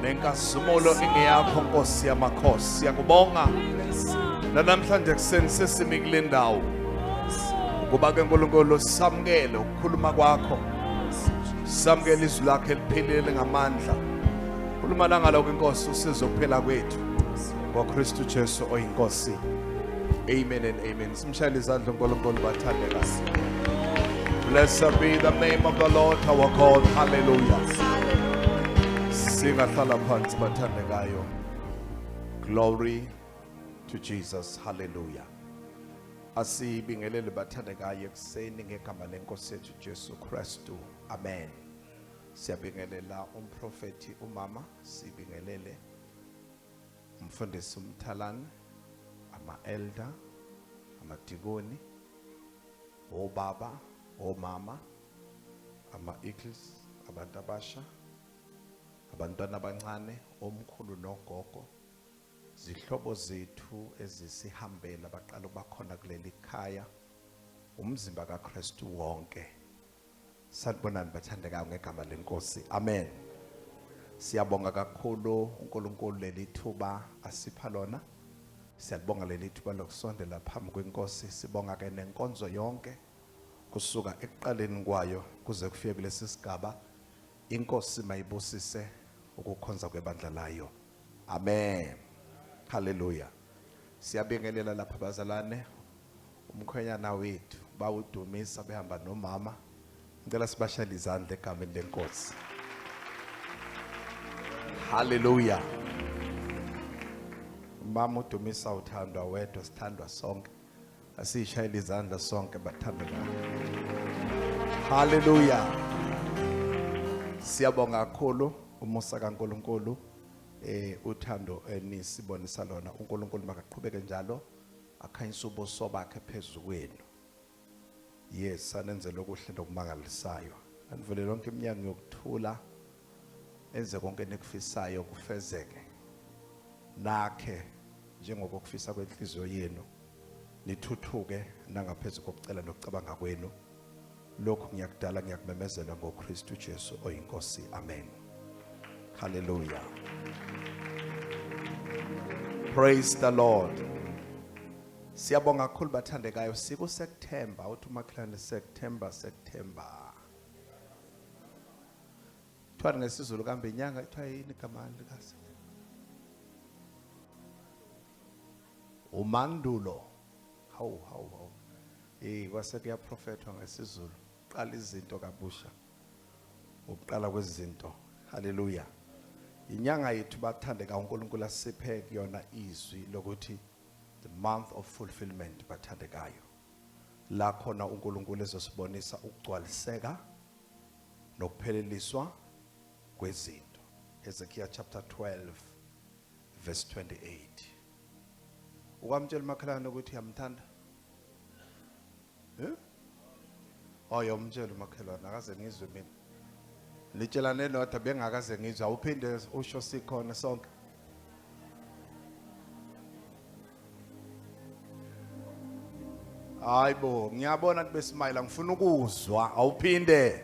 nenkazimulo ingeyakho nkosi yamakhosi siyakubonga nanamhlanje ekuseni sesimi kule ndawo ukuba ke nkulunkulu samukele ukukhuluma kwakho samukele izwi lakho eliphilile ngamandla khuluma langaloko inkosi usizo kuphela kwethu ngokristu jesu oyinkosi amen and amen Simshayele izandla uNkulunkulu bathande kahle. Blessed be the name of the Lord our God. Hallelujah. Singahlala phansi bathande kayo. Glory to Jesus. Hallelujah. Asibingelele bathande kayo ekuseni ngegama lenkosi yethu Jesu Kristu. Amen. Siyabingelela umprofeti umama sibingelele Umfundisi uMthalane, ama-elder, amadikoni, obaba, omama, ama-eagles, abantu abasha, abantwana abancane, omkhulu nogogo, zihlobo zethu ezisihambela baqala ukuba khona kuleli khaya, umzimba kaKristu wonke. Sanibonani bathandekayo ngegama lenkosi. Amen. Siyabonga kakhulu uNkulunkulu leli thuba asipha lona. Siyalibonga leli thuba lokusondela phambi kwenkosi. Sibonga ke nenkonzo yonke kusuka ekuqaleni kwayo kuze kufike kulesi sigaba. Inkosi mayibusise ukukhonza kwebandla layo. Amen. Hallelujah. Siyabingelela lapha bazalwane. Umkhwenyana wethu bawudumisa behamba nomama. Ngicela sibashayele izandla egameni lenkosi. Hallelujah. Mama udumisa uthandwa wedwa sithandwa sonke. Asishayele izandla sonke bathandwa. Hallelujah. Siyabonga kakhulu umusa kaNkuluNkulu. Eh uthando enisibonisa eh, lona uNkulunkulu makaqhubeke njalo akhanyisa ubuso bakhe phezulu kwenu. Yes sanenzela okuhle nokumangalisayo. Anivule lonke iminyango yokuthula enze konke nikufisayo kufezeke. Nakhe njengoba kufisa kwenhliziyo yenu nithuthuke nangaphezulu kokucela nokucabanga kwenu. lokhu ngiyakudala ngiyakumemezela ngoKristu Jesu oyinkosi amen haleluya praise the lord siyabonga kakhulu bathandekayo siku September uthi umakhelwane September September kuthiwa ngesizulu kambe inyanga kuthiwa yini igama lika umandulo Hawu hawu hawu. Eh kwase kuyaprofethwa ngesiZulu. Qala izinto kabusha. Ukuqala kwezinto. Haleluya. Inyanga yethu bathande kaNkulunkulu asiphe kuyona izwi lokuthi the month of fulfillment bathandekayo. La khona uNkulunkulu ezosibonisa ukugcwaliseka nokupheleliswa kwezinto. Hezekiah chapter 12 verse 28. ukwamtshela umakhelwane ukuthi uyamthanda eh oyomtshela oh, umakhelwane akaze ngizwe mina litshelane lodwa bengakaze ngizwe awuphinde usho sikhona sonke hayibo ngiyabona kube smile ngifuna ukuzwa awuphinde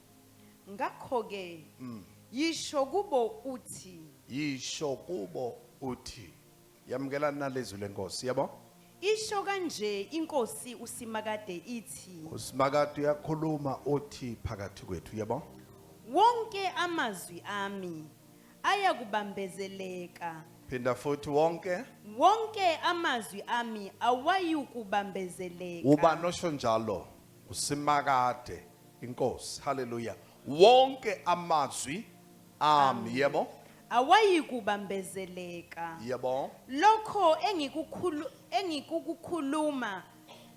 Ngakho-ke, yisho kubo uthi. Yisho kubo uthi. Yamukelani nalezwi lenkosi, yabo? Isho kanje inkosi uSimakade ithi. USimakade uyakhuluma uthi phakathi kwethu, yabo? Wonke amazwi ami ayakubambezeleka. Phinda futhi wonke. Wonke amazwi ami awayukubambezeleka. Ubani osho njalo? usimakade inkosi haleluya wonke amazwi ami yebo awayikubambezeleka yebo lokho engikukhulu engikukukhuluma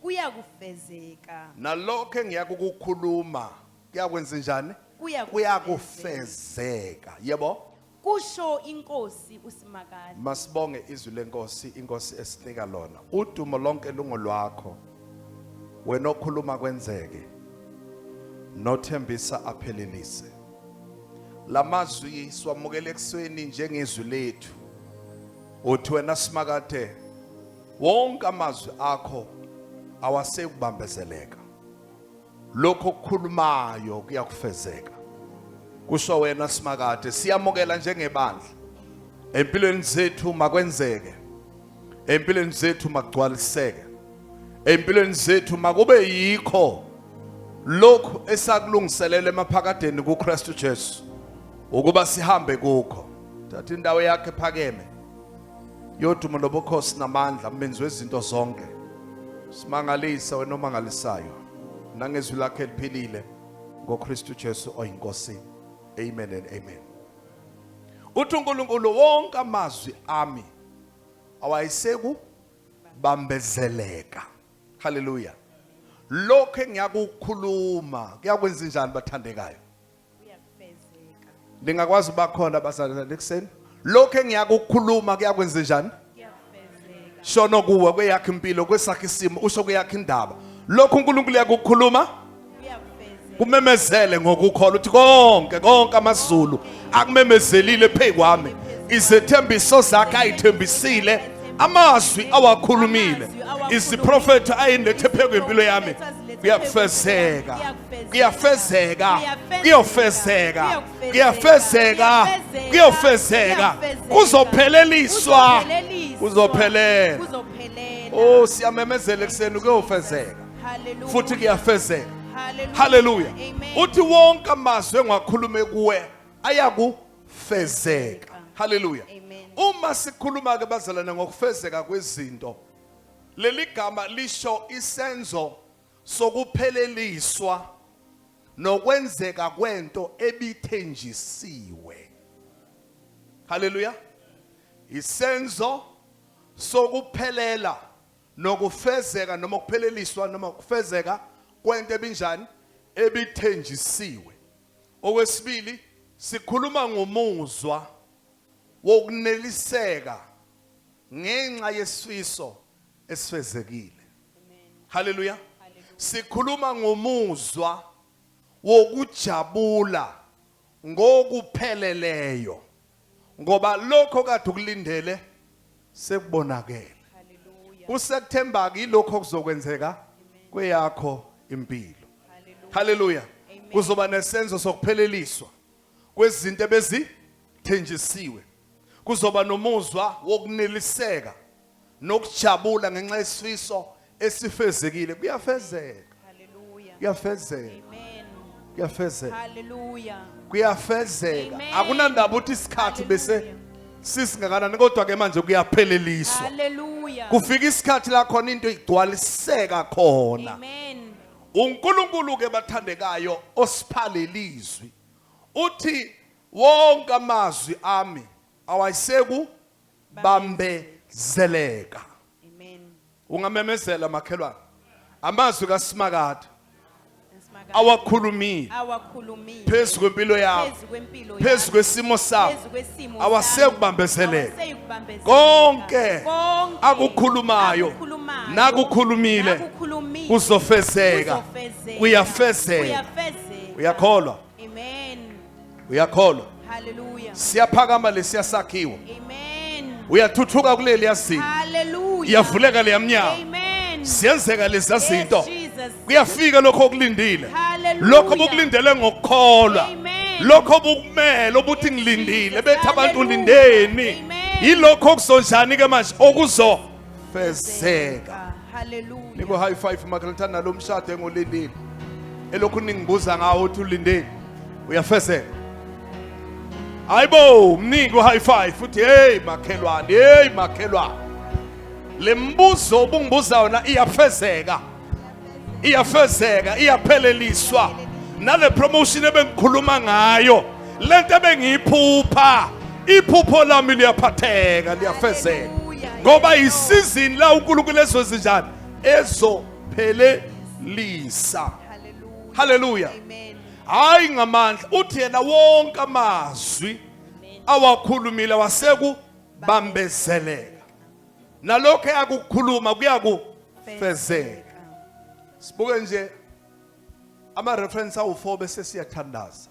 kuyakufezeka nalokho engiyakukukhuluma kuyakwenza njani Kuyakufezeka. kuyakufezeka yebo Kusho iNkosi uSimakade. Masibonge izwi lenkosi, inkosi esinika lona. Udumo lonke lungolwakho. Wena okhuluma kwenzeke. Nothembisa aphelelise. Lamazwi siwamukele ekuseni njengezwi lethu. Uthi wena Simakade wonke amazwi akho awasekubambezeleka. lokho okukhulumayo kuyakufezeka kusho wena simakade siyamukela njengebandla empilweni zethu makwenzeke empilweni zethu magcwaliseke empilweni zethu makube yikho lokhu esakulungiselele emaphakadeni kuKristu Jesu ukuba sihambe kukho thatha indawo yakhe phakeme yodumo lobukhosi namandla mbenzi wezinto zonke simangalisa wena omangalisayo nangezwi lakhe eliphilile ngoKristu Jesu oyinkosi amen and amen uthi uNkulunkulu wonke amazwi ami awayiseku bambezeleka haleluya lokho engiyakukhuluma kuyakwenza njani bathandekayo uyakufezeka ningakwazi uba khona abazalwane ekuseni lokho engiyakukhuluma kuyakwenza njani shono kuwe kweyakhe impilo kwesakhe isimo usho kweyakhe indaba lokho uNkulunkulu uyakukhuluma kumemezele ngokukholwa uthi konke konke amazulu akumemezelile phezu kwami izethembiso zakhe ayithembisile amazwi awakhulumile iziprofetho ayenethe phezu kwempilo yami kuyakufezeka kuyafezeka kuyofezeka kuyafezeka kuyofezeka kuzopheleliswa kuzophelela oh siyamemezela ekuseni kuyofezeka futhi kuyafezeka haleluya uthi wonke amazwi engiwakhulume kuwe ayakufezeka haleluya uma sikhuluma ke bazalana ngokufezeka kwezinto leli gama lisho isenzo sokupheleliswa nokwenzeka kwento ebithenjisiwe haleluya isenzo sokuphelela nokufezeka noma ukupheleliswa noma ukufezeka kwento ebinjani ebithenjisiwe okwesibili sikhuluma ngomuzwa wokuneliseka ngenxa yesifiso esifezekile. Haleluya. Sikhuluma ngomuzwa wokujabula ngokupheleleyo ngoba lokho kade ukulindele sekubonakele. Kusekuthemba ke lokho okuzokwenzeka kweyakho impilo. Haleluya. Kuzoba nesenzo sokupheleliswa kwezinto ebezithenjisiwe. Kuzoba nomuzwa wokuneliseka nokujabula ngenxa yesifiso esifezekile kuyafezeka. Hallelujah. Kuyafezeka. Amen. Kuyafezeka. Hallelujah. Kuyafezeka. Amen. Akunandaba ukuthi isikhathi bese Hallelujah. sisingakanani kodwa ke manje kuyapheleliswa. Hallelujah. Kufika isikhathi la khona into igcwaliseka khona. Amen. uNkulunkulu ke bathandekayo osiphalelizwi uthi Wonke amazwi ami awayiseku bambezeleka. Amen. Ungamemezela makhelwane. Amazwi kaSimakade Nsimakade. awakhulumile Awakhulumile. phezu kwempilo yakho, Phezu kwempilo phezu yakho. kwesimo sakho, Phezu kwesimo sakho. awasekubambezeleka. Awaseyukubambezeleka. Konke Konke akukhulumayo akukhulumayo, nakukhulumile nakukhulumile, kuzofezeka. kuzofezeka, Kuyafezeka. kuyafezeka. Uyakholwa? Amen. uyakholwa Hallelujah. siyaphakama lesiya sakhiwo Amen. uyathuthuka kuleli yazinto Hallelujah. iyavuleka leya mnyango Amen. ziyenzeka lezi Yes, zinto Jesus. kuyafika lokho okulindile Hallelujah. lokho obukulindele ngokukholwa Amen. lokho obukumele obuthi ngilindile Jesus. bethi abantu Hallelujah. lindeni Amen. yilokho okuzonjani ke manje okuzofezeka Hallelujah. Niko high five makalithanda nalo mshado engolindile. Elokhu ningibuza ngawo uthi ulindeni. Uyafezela. Hayibo, mnike high five uthi hey makhelwane, hey makhelwane. Lembuzo obungibuza yona iyafezeka. Iyafezeka, iyapheleliswa. Nale promotion ebengikhuluma ngayo. lento ebengiyiphupha iphupho lami liyaphatheka liyafezeka ngoba isizini la uNkulunkulu ezozinjani ezophelelisa haleluya hayi ngamandla uthi yena wonke amazwi awakhulumile waseku bambezeleka nalokho eyakukhuluma kuyakufezeka sibuke nje ama reference awu4 bese siyathandaza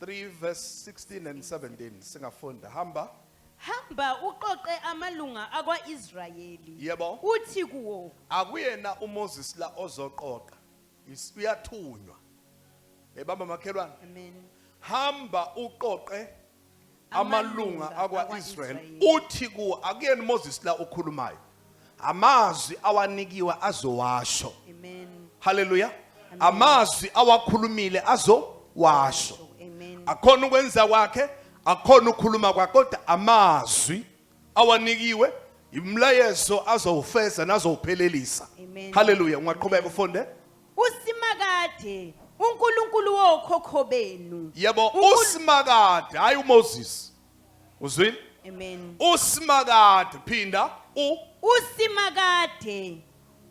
3 verse 16 and 17 singafunda hamba hamba uqoqe amalunga akwa-israyeli Yebo. uthi kuwo akuyena uMoses la ozoqoqa Is- uyathunywa ebamba makhelwane amen hamba uqoqe amalunga akwa-israyeli uthi kuwo akuyena umoses la okhulumayo amazwi awanikiwe azowasho haleluya amazwi awakhulumile azowasho akhona ukwenza kwakhe akhona ukukhuluma kwakhe kodwa amazwi awanikiwe imlayezo azowufeza nazowuphelelisa haleluya ungaqhubeka ufunde usimakade unkulunkulu wokhokho benu yebo Unkulu- usimakade hayi umoses uzwile amen usimakade phinda u usimakade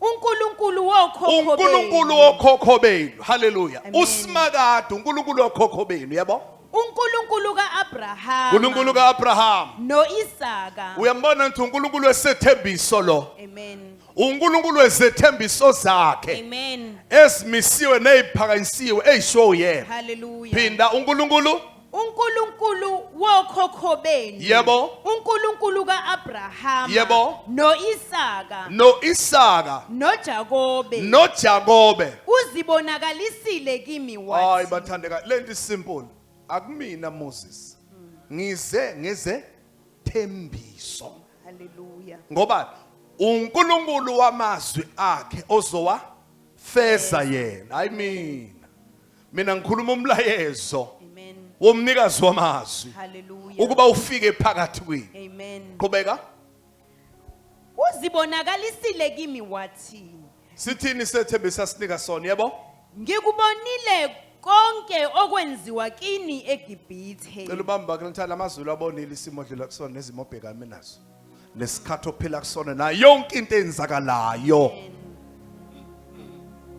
unkulunkulu wokhokho benu unkulunkulu wokhokho benu haleluya Amen. usimakade unkulunkulu wokhokho benu yebo unkulunkulu ka-abrahama unkulunkulu ka-abrahama noisaka uyambona ngithi unkulunkulu wesethembiso lo amen uNkulunkulu wezethembiso zakhe Amen. ezimisiwe neziphakanyisiwe ezishiwo uyena Hallelujah. phinda uNkulunkulu uNkulunkulu wokhokho benu Yebo. uNkulunkulu kaAbrahama Yebo. noIsaka noIsaka noJakobe noJakobe uzibonakalisile kimi hayi wathi bathandeka lento isimple akumina Moses ngize ngeze thembiso haleluya ngoba uNkulunkulu wamazwi akhe ozowa feza yena hayi mina mina ngikhuluma umlayezo womnikazi wamazwi ukuba ufike phakathi kwini amen qhubeka uzibonakalisile kimi wathini Sithini sethembe sasinika sona yebo? Ngikubonile konke okwenziwa kini eGibhithe. Cela ubambe bakhe ngithanda amazulu abonile isimo odlula kusona nezimo obhekame nazo. Nesikhathi ophila kusona nayo yonke into eyenzakalayo.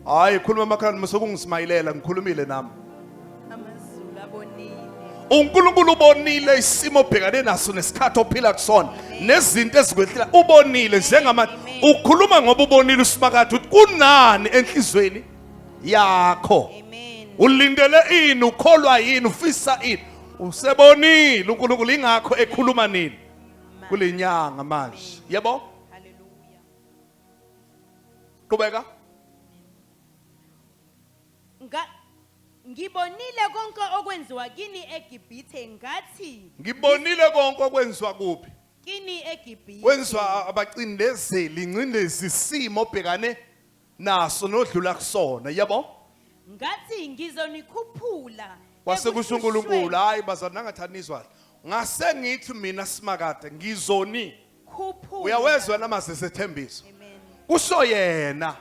Hayi khuluma emakhaleni musokungismayilela ngikhulumile nami. uNkulunkulu ubonile isimo obhekane naso nesikhathi ophila kusona nezinto ezikwehlela ubonile njengamanje ukhuluma ngoba ubonile usimakade ukuthi kunani enhlizweni yakho ulindele ini ukholwa yini ufisa ini usebonile uNkulunkulu ingakho ekhuluma nini kulenyanga manje yebo haleluya qhubeka Ngibonile konke okwenziwa kini eGibhithe ngathi. Ngibonile konke okwenziwa kuphi? Kini eGibhithe. Kwenziwa abacindezeli ingcindezi isimo obhekane naso nodlula kusona. Yebo? Ngathi ngizonikhuphula. Kwase kusho uNkulunkulu, hayi bazana ngathanizwa. Ngase ngithi mina simakade ngizoni Khuphula. uyawezwa namazwi esethembiso Amen. kusho yena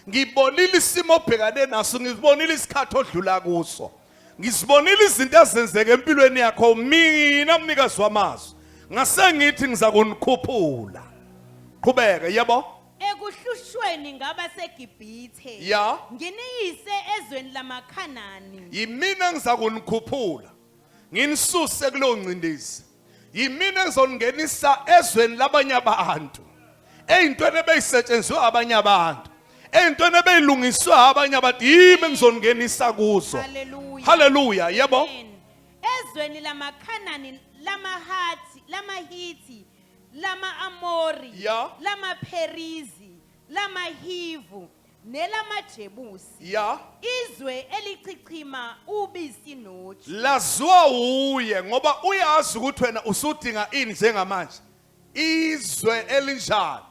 ngibonile isimo obhekane naso ngizibonile isikhathi odlula kuso ngizibonile izinto ezenzeka empilweni yakho mina mnikazi wamazwi ngase ngithi ngiza kunikhuphula qhubeka yebo Ekuhlushweni ngaba seGibhithe. Ya. Nginiyise ezweni lamaKhanani. yimina engiza kunikhuphula nginisuse kuleyo ngcindezi yimina engizongenisa ezweni labanye abantu eyintweni ebeyisetshenzwe abanye abantu eyintweni ebeyilungiswe abanye abantu yimi engizongenisa kuzo haleluya yebo ezweni lamakhanani lamahathi lamahithi lama-amori yeah. lamapherizi lamahivu nelamajebusi ya izwe elichichima ubisi noju laziwa wuye ngoba uyazi ukuthi wena usudinga ini njengamanje izwe elinjalo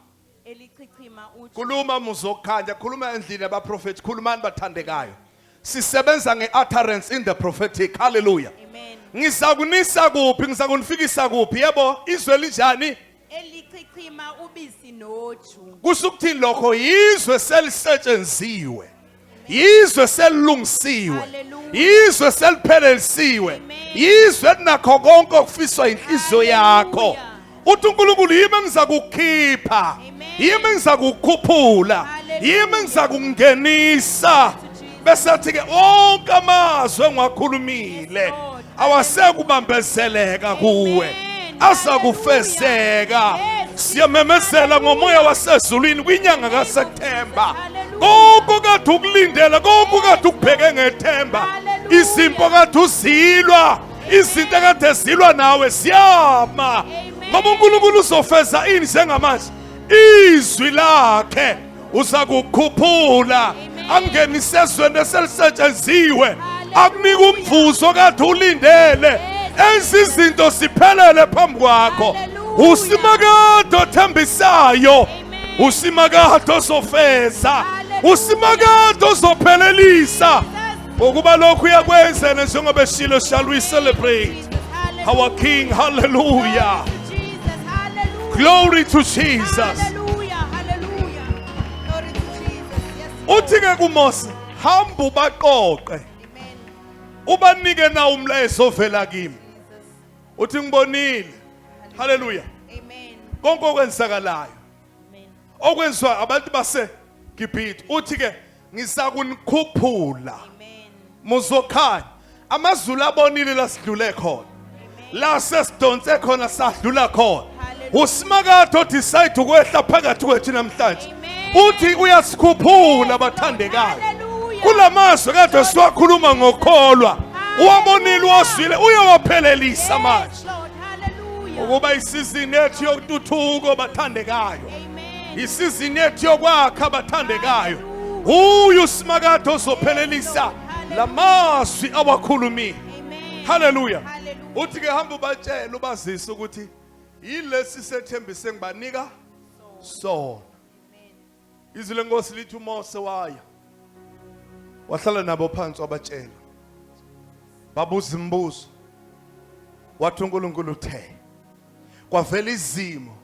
elichichima uju khuluma muzokhanya khuluma endlini yabaprofethi khulumani bathandekayo Sisebenza ngeutterance in the prophetic. Hallelujah. Amen. Ngizakunisa kuphi? Ngizakunifikisa kuphi? Yebo, izwe linjani? Elichichima ubisi noju. Kusukuthini lokho? Yizwe selisetshenziwe. Yizwe selilungisiwe. Hallelujah. Yizwe seliphelelisiwe. Amen. Yizwe linakho konke okufiswa inhliziyo yakho. Hallelujah. uthi uNkulunkulu yimi engizakukhipha yimi engizakukhuphula yimi engizakungenisa bese athi ke onke amazwi engiwakhulumile awasekubambezeleka kuwe azakufezeka siyamemezela ngomoya wasezulwini kwinyanga kaSeptember konke kade ukulindela konke kade ukubheke ngethemba izimpo kade uzilwa izinto ekade zilwa nawe ziyama ngoba uNkulunkulu uzofeza ini njengamanje izwi lakhe uzakukhuphula angenise ezweni eselisetshenziwe akunika umvuzo kade ulindele enza izinto ziphelele phambi kwakho usimakade othembisayo usimakade ozofeza usimakade ozophelelisa Ukuba lokhu uyakwenza njengoba eshilo shall we celebrate our King. Hallelujah. Glory to Jesus. Uthi ke kuMose, hamba ubaqoqe. Ubanike na umlayezo ovela kimi. Uthi ngibonile. Hallelujah. Amen. Konke okwenzakalayo. Amen. Okwenziwa abantu base Gibhithe. Uthi ke ngizakunikhuphula muzokhanya amazulu abonile la sidlule khona la sesidonse khona sadlula khona usimakade odecide ukwehla phakathi kwethu namhlanje uthi uyasikhuphula bathandekayo kula mazwi kade siwakhuluma ngokholwa uwabonile uwazwile uyawaphelelisa manje ukuba isizini ethu yokututhuko bathandekayo isizini yethu yokwakha abathandekayo uye usimakade ozophelelisa la mazwi awakhulumile haleluya uthi ke hamba ubatshela ubazise ukuthi yilesi sethembise ngibanika sona izwi lenkosi lithi umose waya wahlala nabo phansi wabatshela babuza imibuzo wathi unkulunkulu uthe kwavela izimo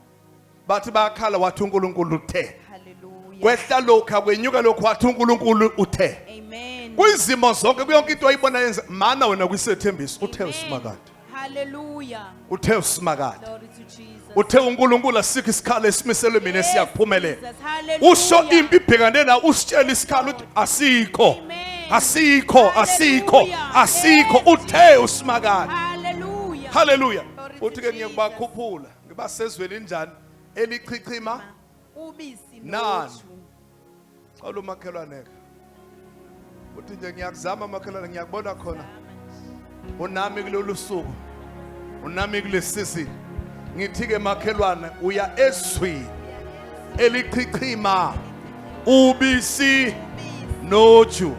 bathi bayakhala wathi uNkulunkulu uthe Hallelujah. kwehla lokha kwenyuka lokhu wathi uNkulunkulu uthe Amen. kwizimo zonke kuyonke into ayibona yenza mana wena kwisethembiso uthe Amen. usimakade Hallelujah. uthe usimakade Glory to Jesus. uthe uNkulunkulu asikho isikhala esimiselwe mina Yes, siyakuphumelela Jesus. Hallelujah. usho impi ibhekane na usitshela isikhala uthi asikho Amen. asikho asikho Hallelujah. asikho Yes, uthe usimakade Hallelujah. haleluya Glory to uthi ke Jesus. ngiyakubakhuphula ngiba sezweni linjani elichichima ubisi Nani? noju xawula umakhelwaneka uthi nje ngiyakuzama makhelwane ngiyakubona khona unami kulolu suku unami kulesisi ngithi-ke makhelwane uya ezweni elichichima ubisi noju noju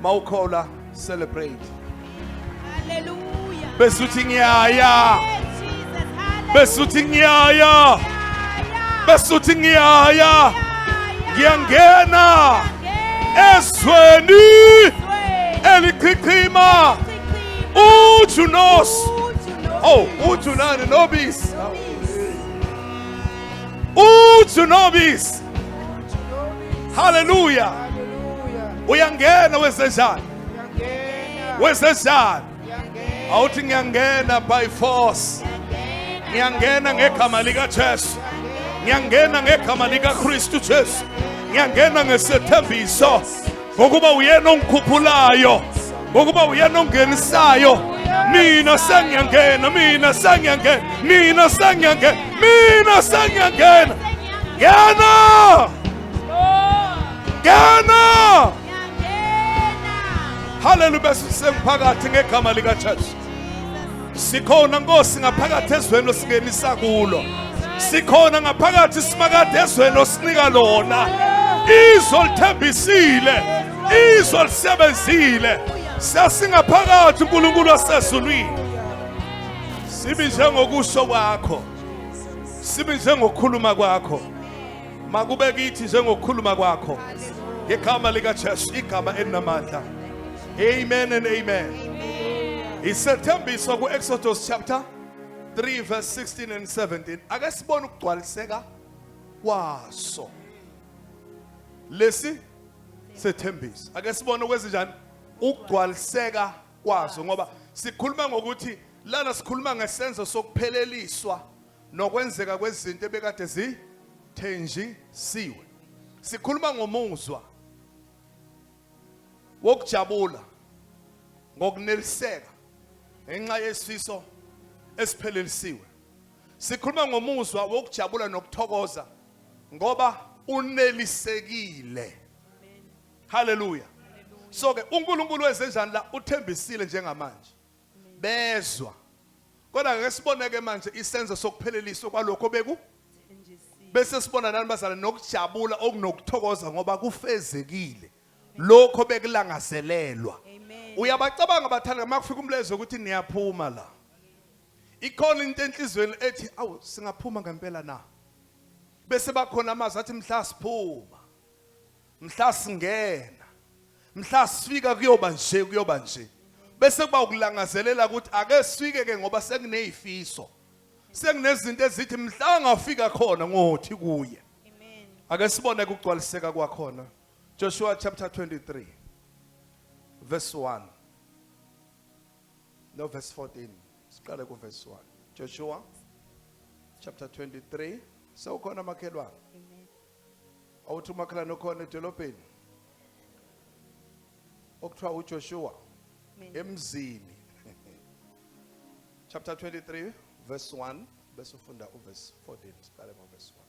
mawukhola Celebrate. Hallelujah. Besuthi ngiyaya. Besuthi ngiyaya. Besuthi ngiyaya. Ngiyangena. Ezweni. Elichichima. Ujunos. Oh, ujunani nobis. Ujunobis. haleluya uyangena wesezana wesezana awuthi ngiyangena by force ngiyangena ngegama likajesu ngiyangena ngegama likaKristu Jesu ngiyangena ngesethembiso ngokuba uyena ongikhuphulayo ngokuba uyena ongenisayo mina sengiyangena mina sengiyangena mina sengiyangena mina sengiyangena ngena ngena haleluya bese sengiphakathi ngegama likajesu Sikhona Nkosi ngaphakathi ezweni osingenisa kulo. Sikhona ngaphakathi simakade ezweni osinika lona. Izwe lithembisile, izwe lisebenzile. Sesingaphakathi uNkulunkulu wasezulwini. Sibi njengokusho kwakho. Sibi njengokhuluma kwakho. Makube kithi njengokhuluma kwakho. Ngegama lika Jesu igama elinamandla. Amen and amen. Amen. Isethembiso ku Exodus chapter 3 verse 16 and 17. Ake sibone ukugcwaliseka kwaso. Lesi sethembiso. Ake sibone okwezinjani ukugcwaliseka kwaso ngoba sikhuluma ngokuthi lana sikhuluma ngesenzo sokupheleliswa nokwenzeka kwezinto ebekade zithenjisiwe. Sikhuluma ngomuzwa wokujabula ngokuneliseka ngenxa yesifiso esiphelelisiwe. Sikhuluma ngomuzwa wokujabula nokuthokoza ngoba unelisekile. Haleluya. So ke uNkulunkulu wenzenjani la uthembisile njengamanje. bezwa kodwa ngeke siboneke manje isenzo sokupheleliswa kwalokho beku bese sibona nani bazalwane nokujabula okunokuthokoza ngoba kufezekile lokho bekulangazelelwa uyabacabanga bathanda uma kufika umlezo ukuthi niyaphuma la ikhona into enhlizweni ethi awu singaphuma ngempela na bese bakhona amazwi athi mhla siphuma mhla singena mhla sifika kuyoba nje kuyoba nje bese kuba ukulangazelela ukuthi ake sifike ke ngoba sekunezifiso sekunezinto ezithi mhla ngafika khona ngothi kuye amen ake sibone kugcwaliseka kwakhona Joshua chapter 23 verse 1 no verse 14 siqale ku verse 1 Joshua chapter 23 sewukhona makhelwane awuthi umakhelwane okhona edolobheni okuthiwa uJoshua Mina. emzini chapter 23 verse 1 bese ufunda uverse 14 siqale ngoverse 1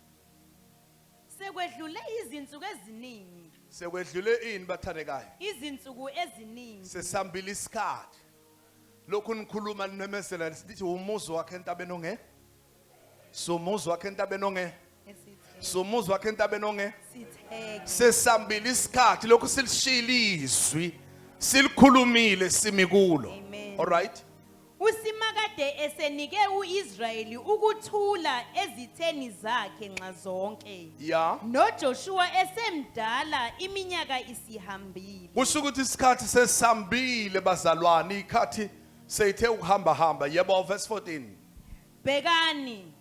Sekwedlule izinsuku eziningi, sekwedlule ini bathandekayo izinsuku eziningi. sesambile isikhathi lokhu nikhuluma nimemezela sithi umuzi wakhe entabeni onge Sumuzi wakhe entabeni onge. Sumuzi wakhe entabeni onge. Sesambile isikhathi lokhu silishila izwi. Silikhulumile simi kulo. All right. usimakade esenike uIsrayeli ukuthula ezitheni zakhe nxa zonke ya noJoshua esemdala iminyaka isihambile kusho ukuthi isikhathi sesambile bazalwane ikhathi seyithe ukuhamba hamba yebo verse 14 Bhekani,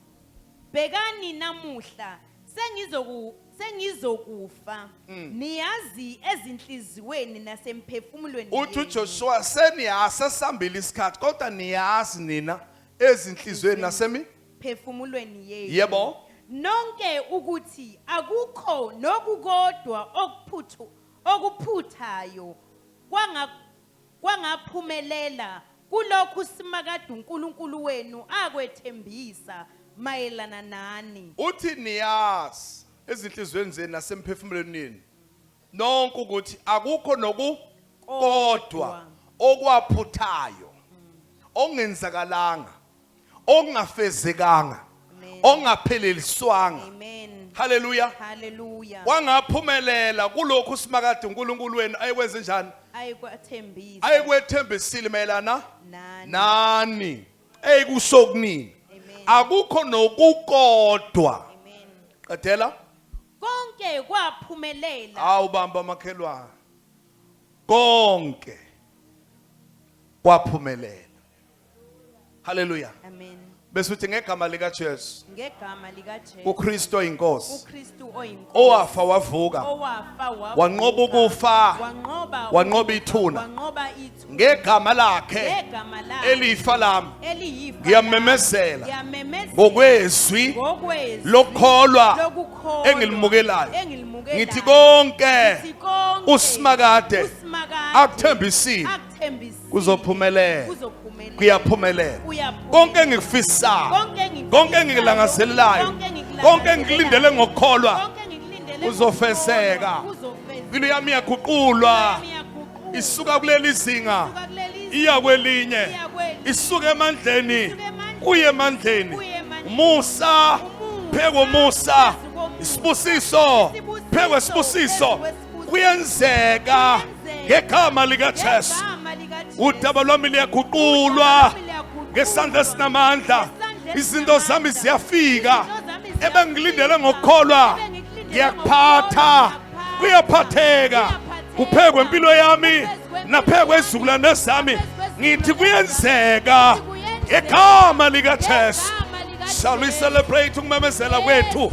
bhekani namuhla sengizoku sengizokufa mm. niyazi ezinhliziyweni nasemphefumulweni uthi uJoshua seniyasa sambile isikhathi kodwa niyazi nina ezinhliziyweni nasemi phefumulweni yenu yebo nonke ukuthi akukho nokukodwa okuphuthu okuphuthayo kwanga kwangaphumelela kulokhu uSimakade uNkulunkulu wenu akwethembisa mayelana nani. Uthi niyazi ezinhliziyweni zenu nasemphefumulenini nonke ukuthi akukho nokukodwa okwaphuthayo okungenzakalanga okungafezekanga ongapheleliswanga haleluya haleluya wangaphumelela kulokhu simakade uNkulunkulu wenu ayekwenze njani ayikwethembisa ayikwethembisile mayelana nani eyikusho kunini akukho nokukodwa qedela konke kwaphumelela awu bamba makhelwane konke kwaphumelela Hallelujah. Amen. Bese uthi ngegama lika Jesu. Ngegama lika Jesu. UKristu oyinkosi. UKristu oyinkosi. Owafa wavuka. Owafa wavuka. Wanqoba ukufa. Wanqoba. Wanqoba ithuna. Wanqoba ithuna. Ngegama lakhe. Ngegama lakhe. Elifa lami. Eliyifa. Ngiyamemezela. Ngiyamemezela. Ngokwezwi. Ngokwezwi. Lokholwa. Lokukholwa. Engilimukelayo. Engilimukelayo. Ngithi konke. Ngithi konke. Usimakade. Usimakade. Akuthembisile. kuzophumelela kuyaphumelela konke engikufisayo konke engikulangazelelayo konke engikulindele ngokukholwa kuzofeseka impilo yami iyaguqulwa isuka kuleli zinga iya kwelinye isuka emandleni kuye emandleni umusa phekomusa isibusiso phekwesibusiso kuyenzeka ngegama likaJesu udaba lwami liyaguqulwa ngesandla esinamandla izinto zami ziyafika ebengilindele ngokukholwa ngiyakuphatha kuyaphatheka kuphekwe impilo yami naphekwe izizukulwane zami ngithi kuyenzeka ngegama likajesu shall we celebrate ukumemezela kwethu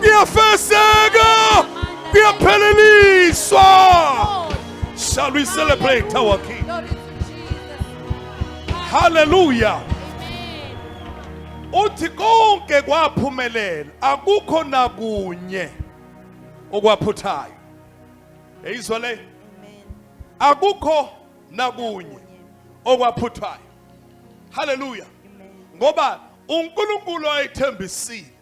kuyafezeka kuyapheleliswa shall we celebrate our king hallelujah uthi konke kwaphumelela akukho nakunye okwaphuthayo eyizwa le akukho nakunye okwaphuthayo haleluya ngoba uNkulunkulu ayethembisile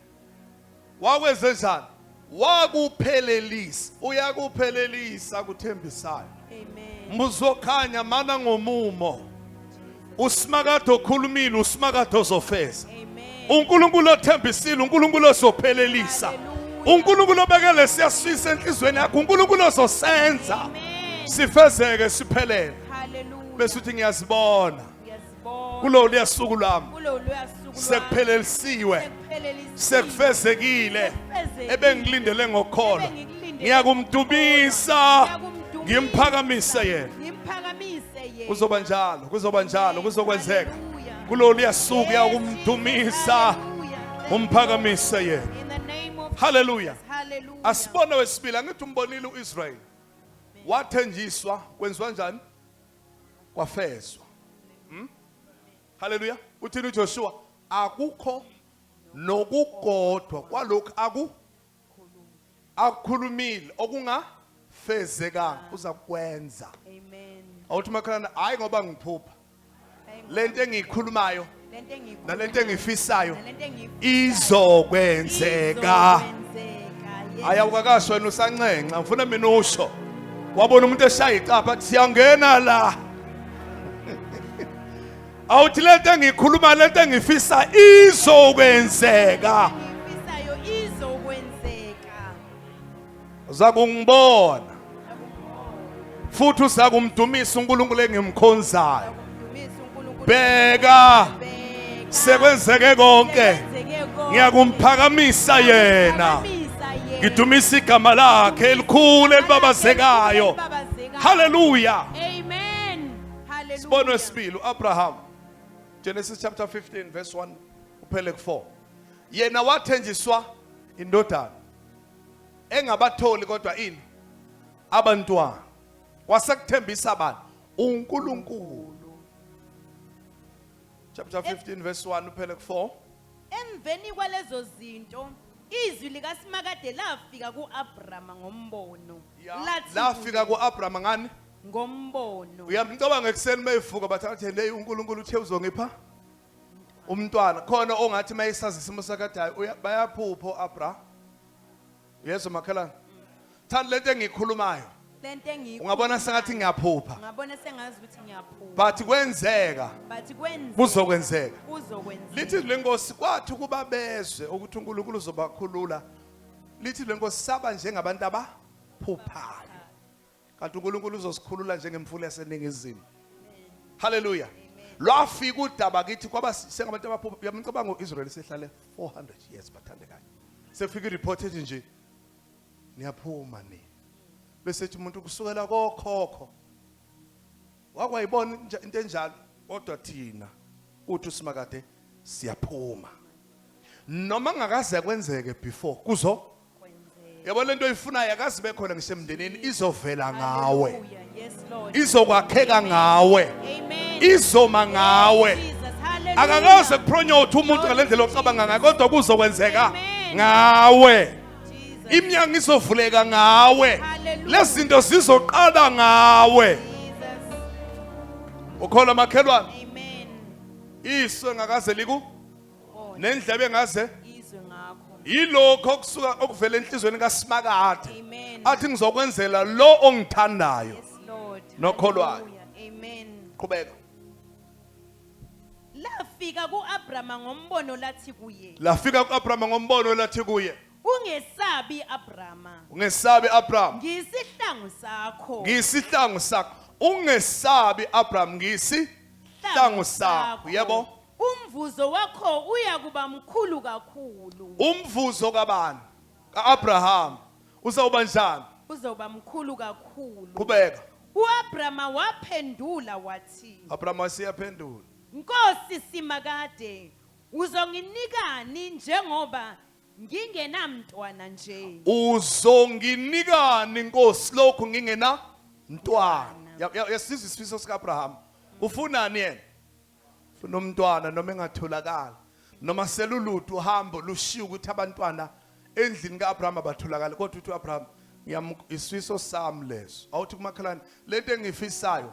Wakwenzenjani? Wakuphelelisa. Uyakuphelelisa kuthembisayo. Amen. Muzokhanya mana ngomumo. Usimakade okhulumile, usimakade ozofeza. uNkulunkulu othembisile uNkulunkulu ozophelelisa uNkulunkulu obekele siyasifisa enhlizweni yakho uNkulunkulu ozosenza sifezeke siphelele bese uthi ngiyazibona kulo luyasuku lwami sekuphelelisiwe sekufezekile ebengilindele ngokholo ngiyakumdubisa ngimphakamisa yena kuzoba njalo kuzoba njalo kuzokwenzeka kulo luyasuku yakumdumisa umphakamise yena haleluya asibone wesibili angithi umbonile uIsrael wathenjiswa kwenziwa njani kwafezwa hmm? haleluya uthini ujoshua akukho nokukodwa kwalokhu aku akukhulumile okungafezekanga uza kwenza amen awuthi makhalana hayi ngoba ngiphupha lento engiyikhulumayo nalento engifisayo izokwenzeka hayi awukakashi wena usanxenxa ngifuna mina usho wabona umuntu eshaya icapha athi siyangena la awuthi le nto engikhuluma le nto engifisa izokwenzeka uzakungibona futhi usakumdumisa uNkulunkulu engimkhonzayo bheka sekwenzeke konke ngiyakumphakamisa yena ngidumisa igama lakhe elikhulu elibabazekayo haleluya amen haleluya sibono esibili uAbraham Genesis chapter 15 verse 1 uphele ku4 yena wathenjiswa indodana engabatholi kodwa ini abantwana wasekuthembisa bani uNkulunkulu chapter 15 verse 1 uphele ku 4 emveni kwalezo zinto izwi likaSimakade lafika kuAbrahama ngombono lathi lafika kuAbrahama ngani ngombono uyamcabanga ekuseni mayivuka bathathe hey uNkulunkulu uthe uzongipha umntwana khona ongathi mayesazi isimo sakadayi bayaphupho abra yeso makhelana thanda lento engikhulumayo lento engikhulumayo ungabona sengathi ngiyaphupha ngabona sengazi ukuthi ngiyaphupha but kwenzeka but kwenzeka kuzokwenzeka kuzokwenzeka lithi lenkosi kwathi kuba bezwe ukuthi uNkulunkulu uzobakhulula lithi lenkosi saba njengabantu abaphuphayo kanti uNkulunkulu uzosikhulula njengemfula yaseningizimu haleluya lwafika udaba kithi kwaba sengabantu abaphupha uyamcabanga u-israyeli sehlale 400 years bathandekayo sefika ireport ethi nje niyaphuma ni bese thi umuntu kusukela kokhokho wakwayibona into enjalo kodwa thina uthi usimakade siyaphuma noma ngakaze kwenzeke before kuzo yabo lento oyifunayo akazi bekhona ngisemndenini izovela ngawe izokwakheka ngawe izoma ngawe akakaze kupronyothe umuntu ngale ndlela ocabanga ngayo kodwa kuzokwenzeka ngawe imnyango izovuleka ngawe lezi zinto zizoqala ngawe ukholwa makhelwane iso ngakaze liku nendlebe engaze yilokho okusuka okuvela enhlizweni kaSimakade athi ngizokwenzela lo ongithandayo nokholwayo amen qhubeka lafika kuAbrahama ngombono lathi kuye lafika kuAbrahama ngombono lathi kuye ungesabi Abrahama ungesabi Abrahama ngisihlangu sakho ngisihlangu sakho ungesabi Abrahama ngisihlangu sakho yebo Umvuzo wakho uya kuba mkhulu kakhulu. Umvuzo kabani? Ka-Abrahama. Uzawuba njani? Uzawuba mkhulu kakhulu. Qhubeka. U-Abrahama waphendula wathi. Abrahama waseyaphendula. Nkosi Simakade, uzonginikani njengoba ngingenamntwana nje? Uzonginikani Nkosi lokhu ngingena mntwana? Yasizwa isifiso sika-Abrahama. Ufunani yena? funa umntwana noma engatholakala noma seluludu uhambo lushiya ukuthi abantwana endlini ka-abrahama batholakale kodwa uthi u-abrahama isifiso sami leso awuthi kumakhelwane le nto engiyifisayo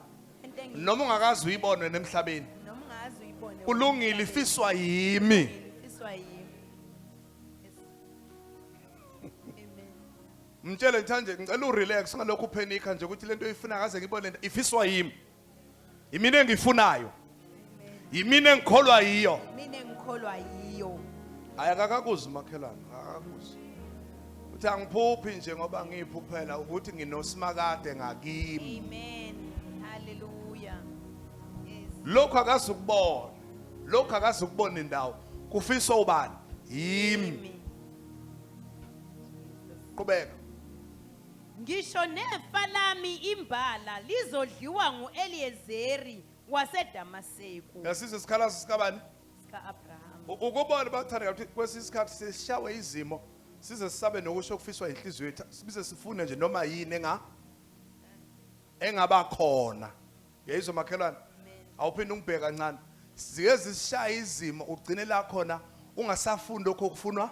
noma ungakazi uyibone nemhlabeni kulungile ifiswa yimi mtshele nje ngicela urelax ngalokhu uphenikha nje ukuthi lento oyifuna kaze ngibone lento ifiswa yimi yimina engifunayo yimina engikholwa yiyo mina engikholwa yiyo hayi akakakuzi umakhelwane akakakuzi uthi angiphuphi nje ngoba ngiyiphuphela ukuthi nginosimakade ngakimi amen haleluya lokhu akazi ukubona lokhu akazi ukubona indawo kufisa ubani yimi qhubeka Ngisho nefa lami imbala lizodliwa ngu-Eliyezeri waseDamaseku. Uyasizwa isikhalazo sikabani? Sika-Abrahama. U- Ukubona bathandeka ukuthi kwesinye isikhathi sishawe izimo size sisabe nokusho okufiswa inhliziyo yethu sibize sifune nje noma yini enga engaba khona. Yayizwa makhelwane. Awuphinde ungibheke kancane. Zike zisishaya izimo ugcine la khona ungasafuni lokho okufunwa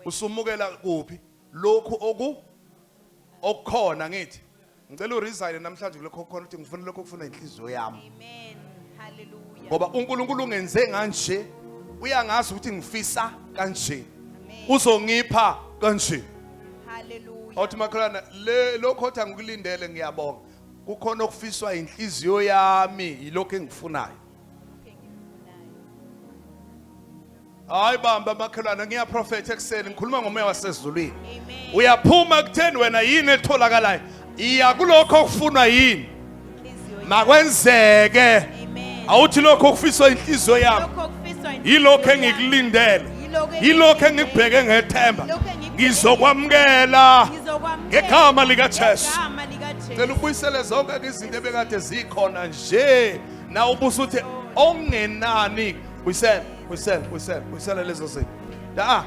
usumukela kuphi? lokhu oku okukhona ngithi ngicela uresign namhlanje kulokho okukhona ukuthi ngifuna lokho okufuna inhliziyo yami amen haleluya ngoba uNkulunkulu ungenze kanje uyangazi ukuthi ngifisa kanje uzongipha kanje haleluya awuthi makholana le lokho othi angikulindele ngiyabonga kukhona okufiswa inhliziyo yami yilokho engifunayo hayi bamba makhelwane ngiyaprofetha ekuseni ngikhuluma ngomoya wasezulwini uyaphuma kutheni wena yini etholakalayo iya kulokho okufunwa yini makwenzeke awuthi lokho okufiswa inhliziyo yami yilokho engikulindele yilokho engikubheke ngethemba ngizokwamukela ngegama likaJesu cela ubuyisele zonke izinto ebekade zikhona nje na ubusa uthi ongenani buyisela buyisela buyisela buyisela lezo zinto da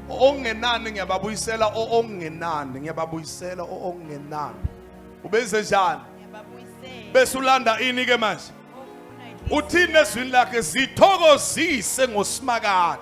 ongenani ngiyababuyisela ongenani ngiyababuyisela ongenani ubenze njani bese ulanda ini ke manje uthini ezwini lakhe zithokozise ngosimakade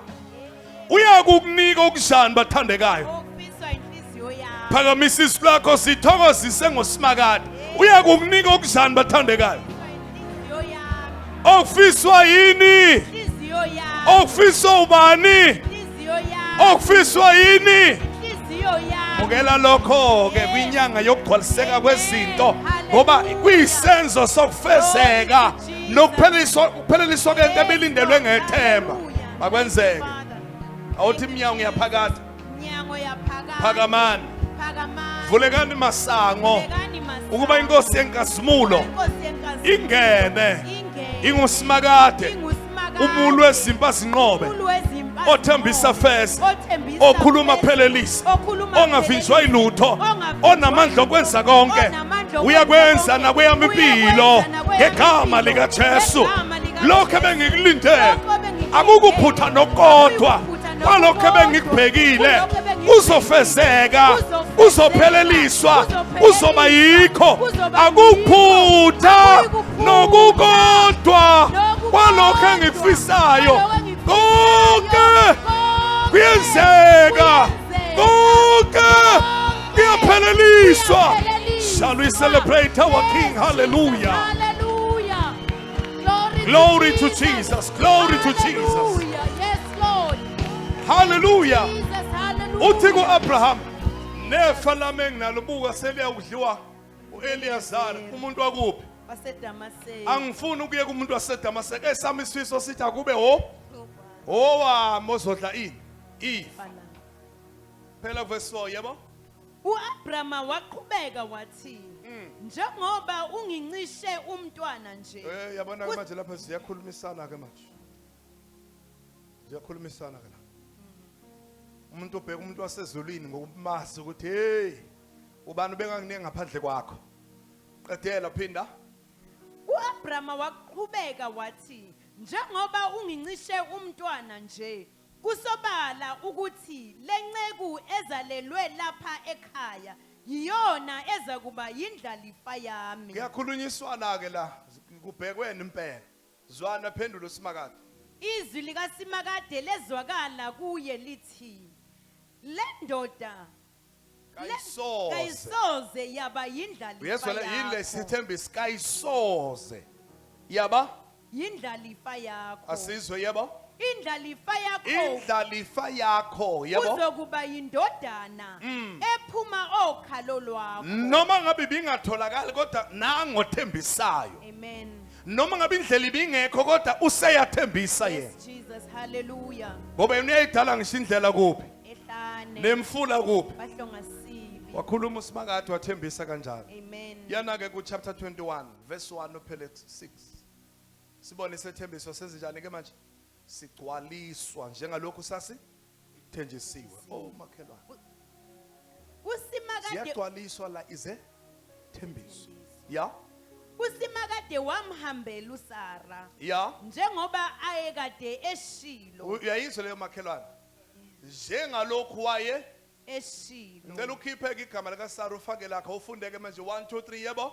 uyakukunika okuzani bathandekayo okufiswa inhliziyo yakho phakamisa isu lakho sithokozise ngoSimakade uyakukunika okuzani bathandekayo inhliziyo yakho okufiswa yini inhliziyo yakho okufiswa ubani inhliziyo yakho okufiswa yini inhliziyo yakho bukela lokho ke kwinyanga yokugcwaliseka kwezinto ngoba kuyisenzo sokufezeka nokupheleliswa ukupheleliswa kwento ebilindelwe ngethemba Makwenzeke. Awuthi iminyango yaphakade. Iminyango yaphakade. Phakamani. Phakamani. Vulekani masango. Vulekani masango. Ukuba inkosi yenkazimulo. Inkosi yenkazimulo. Ingene. Ingene. Ingusimakade. Ingusimakade. Umulu wezimpa zinqobe. Umulu wezimpa. Othembisa feza. Othembisa okhuluma phelelisa ongavinjwa ilutho onamandla okwenza konke uyakwenza nakweyami impilo ngegama likaJesu lokho ebengikulindele akukuphutha nokodwa kwalokho ebengikubhekile uzofezeka uzopheleliswa uzoba yikho akuphutha nokukodwa kwalokho engikufisayo konke kuyenzeka konke kuyapheleliswa shall we celebrate our king hallelujah glory to jesus glory to jesus hallelujah uthi ku-abraham nefa lami enginalo buka seliyawudliwa uEliyazara umuntu wakuphi waseDamaseko angifuni ukuye kumuntu waseDamaseko esami isifiso sithi akube ho owa mozodla ini ifa phela verse 4 yebo uAbrama waqhubeka wathi mm. njengoba ungincishe umntwana nje eh yabona manje lapha siyakhulumisana ke manje ziyakhulumisana ke la umuntu obheka umuntu wasezulwini ngokumazi ukuthi hey ubani ubenganginingi ngaphandle kwakho qedela phinda uAbrahama waqhubeka wathi njengoba ungincishe umntwana nje kusobala ukuthi lenceku ezalelwe lapha ekhaya yiyona ezakuba yindlalifa yami kuyakhulunyiswana ke la kubhekweni impela Zwana, phendula uSimakade. Izwi likaSimakade lezwakala kuye lithi, Le ndoda le- Kayisoze. kayisoze yaba yindlalifa Uyezwa le- yini yakho. lesithembiso kayisoze. Yaba Yindlalifa yakho. asizwe yebo. Indlalifa yakho Indlalifa yakho yebo. uzokuba yindodana Mm. ephuma okhalo lwakho. Noma ngabe ibingatholakali kodwa nangothembisayo. Amen. noma ngabe indlela ibingekho kodwa useyathembisa yena Yes, Jesus. Hallelujah. ngoba yena uyayidala ngisho indlela kuphi Ehlane. nemfula kuphi Bahlonga sibi. wakhuluma usimakade wathembisa kanjalo Amen. yana-ke kuchapter 21 verse 1 uphele 6 sibone isethembiso senzenjani-ke manje sigcwaliswa njengalokhu sasi Thenjisiwe. Oh makhelwane. Kusimakade Ziyagcwaliswa la ize thembiso. Ya? kusimakade wamhambela uSara Ya? njengoba ayekade eshilo Uyayizwa leyo makhelwane? Njengalokhu waye eshilo. ngicela ukhiphe ke igama lika Sara ufake lakho ufundeke manje 1 2 3 yebo.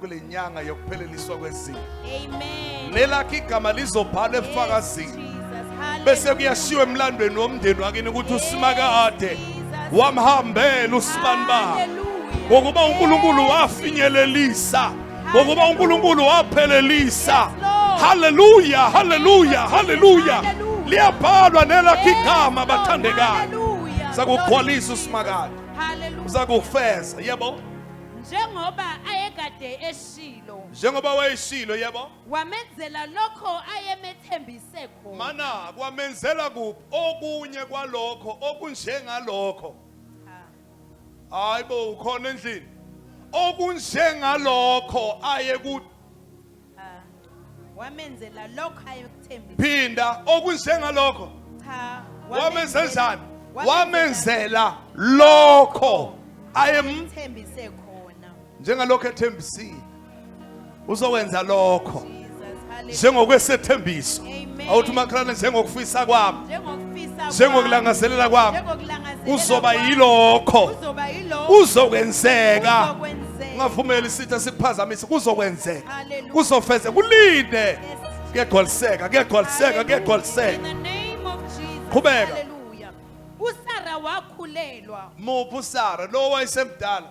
kule nyanga yokupheleliswa kwezinto lelakhe igama lizobhala ebufakazini bese kuyashiwa emlandweni womndeni wakini ukuthi usimakade wamhambela usibani bakhe ngokuba unkulunkulu wafinyelelisa ngokuba unkulunkulu waphelelisa haleluya haleluya haleluya liyabhalwa nelakhe igama bathandekayo sakugcwalisa usimakade uzakufeza yebo njengoba ayekade eshilo njengoba wayeshilo yebo wamenzela lokho ayemethembise khona mana kwamenzela kuphi okunye kwalokho okunjengalokho hayi bo ukhona endlini okunjengalokho ayekuthi wamenzela lokho ayekuthembile phinda okunjengalokho cha wamenzenzani wamenzela lokho ayemthembise khona njengalokho ethembisile uzokwenza lokho njengokwesethembiso awuthi umakhalane njengokufisa kwami njengokulangazelela kwami uzoba yilokho uzokwenzeka ungavumeli isitha sikuphazamise kuzokwenzeka kuzofeze kulinde kuyagcwaliseka kuyagcwaliseka kuyagcwaliseka qhubeka usara wakhulelwa muphi usara lo wayesemdala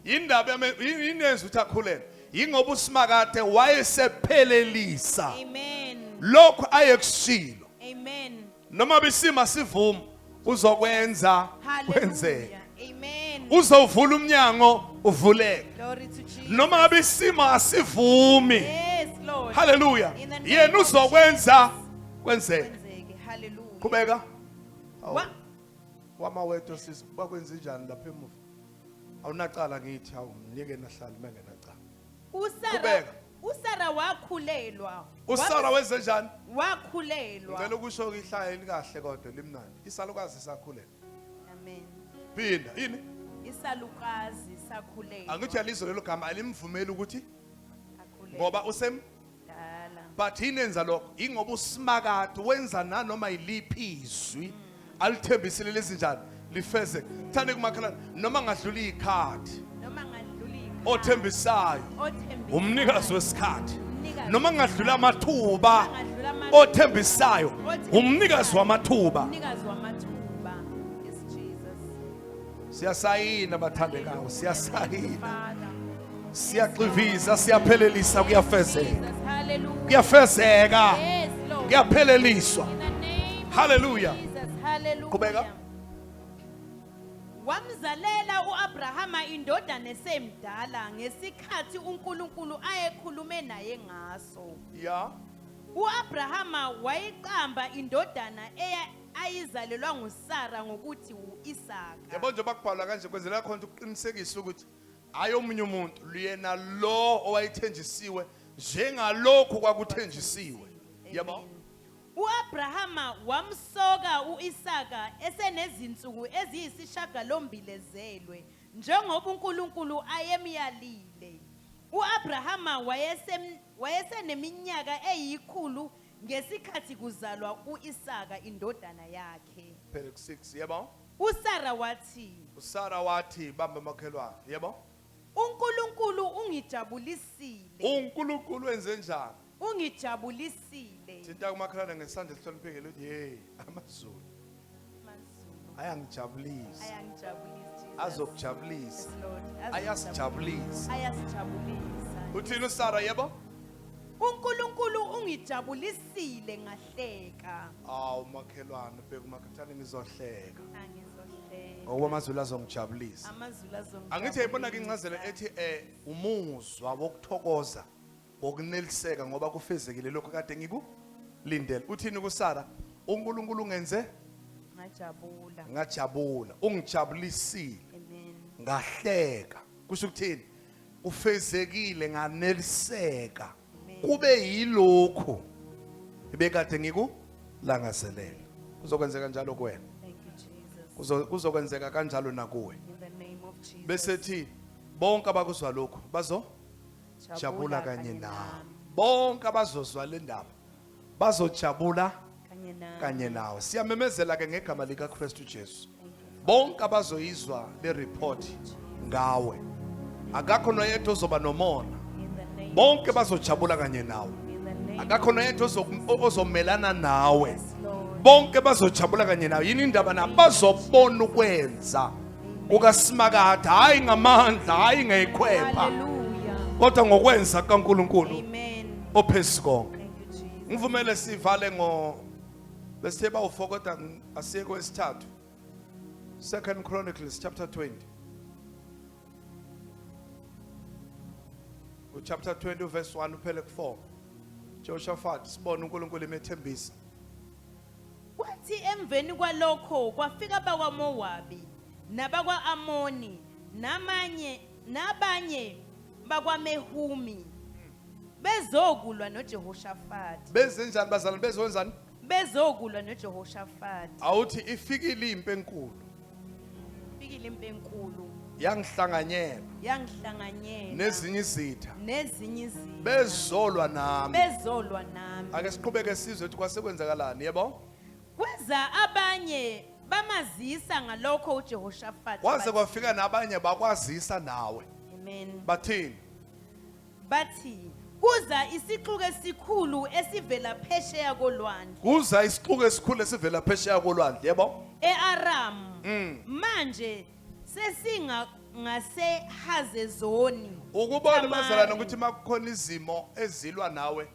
Yindaba yame- yi- yini yenza ukuthi akhulelwe yingoba usimakade wayesephelelisa Amen. lokhu ayekushilo Amen. noma bisima sivuma uzokwenza kwenzeka Hallelujah. Amen. uzovula umnyango uvuleke Glory to Jesus. noma ngabe isimo asivumi Yes, Lord. haleluya In the name yena of uzokwenza kwenzeka Kwenzeke. Hallelujah. qhubeka Wa- wama wedwa sisi bakwenze njani lapha emuva awunacala ngithi hawu mnike nahlali mengenacala usara Qhubeka. usara wakhulelwa usara wenze njani wakhulelwa ngicela ukusho ihlaya elikahle kodwa limnandi isalukazi sakhulelwa amen phinda yini isalukazi sakhulelwa angithi yalizwe lelo gama alimvumeli ukuthi akhulelwa ngoba usem but yini enza lokho ingoba usimakade wenza nanoma yiliphi izwi alithembisile lezinjani lifeze thande kumakhalana noma ngadlula ikhadi noma ngadlula ikhadi othembisayo umnikazi wesikhathi noma ngadlula amathuba othembisayo umnikazi wamathuba siyasayina bathandekayo siyasayina siyaxiviza siyaphelelisa kuyafezeka kuyafezeka kuyapheleliswa haleluya qhubeka wamzalela uAbrahama indodana esemdala ngesikhathi uNkulunkulu ayekhulume naye ngaso ya uAbrahama wayiqamba indodana eya ayizalelwa nguSara ngokuthi u-Isaka. Yabo njengoba kubhalwa kanje kwenzela khona ukuthi kuqinisekise ukuthi hhayi omunye umuntu luyena lo owayethenjisiwe njengalokhu kwakuthenjisiwe. Yabo. Amen. U-Abrahama wamsoka u-Isaka esenezinsuku eziyisishagalombili ezelwe, njengoba uNkulunkulu ayemyalile. U-Abrahama wayesem- wayeseneminyaka eyikhulu Ngesikhathi kuzalwa u-Isaka indodana yakhe. Phele ku-6, yebo. USara wathi. USara wathi, Bambe makhelwane, yebo. UNkulunkulu ungijabulisile. UNkulunkulu wenze njani? Ungijabulisile. Thinta umakhelwane ngesandla esihloniphekile uthi, Yey, amaZulu. ayangijabulisa azokujabulisa ayasijabulisa uthini usara yebo uNkulunkulu ungijabulisile ngahleka awu makhelwane bheka umakhathane ngizohleka ngoba amazulu azongijabulisa angithi yayibona-ke incazelo ethi um umuzwa wokuthokoza ngokuneliseka ngoba kufezekile lokho kade ngikulindele uthini kusara uNkulunkulu ungenze ngajabula ngajabula ungijabulisile amen ngahleka kusho ukuthini ufezekile nganeliseka kube yilokhu ebekade ngikulangazelela kuzokwenzeka njalo kuwena kuzokwenzeka kanjalo nakuwe bese thi bonke abakuzwa lokhu bazo jabula kanye nawe bonke abazozwa le ndaba bazojabula kanye nawe kanye nawe siyamemezela ke ngegama likaKristu Jesu bonke abazoyizwa le report ngawe akakho noyedwa ozoba nomona in the name bonke bazojabula kanye nawe in the name akakho noyedwa ozo- o- ozomelana nawe yes lord bonke bazojabula kanye nawe yini indaba nabo bazobona ukwenza kukaSimakade hayi ngamandla hayi ngekhwepha kodwa ngokwenza kaNkuluNkulu ophezulu konke ngivumele sivale ngo besithe bawufokota asiye kwesithathu second chronicles chapter 20 uchapter 20 uverse 1 uphele ku4 Jehoshaphat sibona uNkulunkulu emethembisa Kwathi emveni kwalokho kwafika abakwaMowabi, nabakwa-Amoni, namanye, nabanye bakwaMehumi, bezokulwa noJehoshafati. Bezenjani bazalwane? Bezokwenzani? Bezokulwa noJehoshafati. Awuthi ifikile impi enkulu. Fikile impi enkulu yangihlanganyela yangihlanganyela nezinye izitha nezinye izitha bezolwa nami bezolwa nami ake siqhubeke sizwe ukuthi kwasekwenzakalani yebo kweza abanye bamazisa ngalokho uJehoshafati kwaze kwafika nabanye bakwazisa nawe amen bathini Bathi, Kuza isixuku esikhulu esivela phesheya kolwandle. Kuza isixuku esikhulu esivela phesheya kolwandle, yebo? E-Aramu. Mm. Manje sesinga ngaseHazezoni. Ukubona bazalwane ukuthi makukhona izimo ezilwa nawe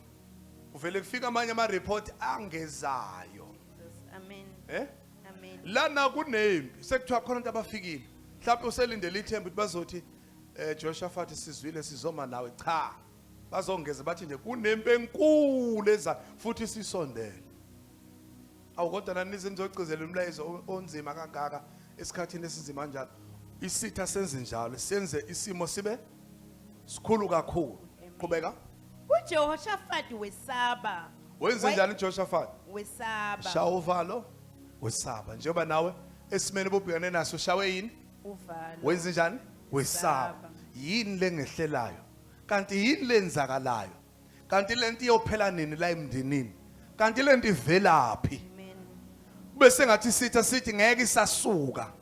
kuvele kufika amanye ama report angezayo. Amen. Eh? Amen. Lana kunempi sekuthiwa khona abantu abafikile. Mhlawumbe uselindele ithemba ukuthi bazothi Eh Jehoshaphat sizwile sizoma nawe cha bazongeze bathi nje kunempi enkulu eza futhi sisondele awukodwa nani nizimzogcizela umlayezo onzima kangaka esikhathini esinzima njalo isitha senze njalo senze isimo sibe sikhulu kakhulu qhubeka uJehoshaphat wesaba wenze njani uJehoshaphat wesaba shawa uvalo wesaba njengoba nawe esimene bobhekane naso shawe yini uvalo wenza njani wesaba yini lengehlelayo kanti yini lenzakalayo kanti lento iyophela nini la emndenini kanti lento ivelaphi kube sengathi sitha sithi ngeke isasuka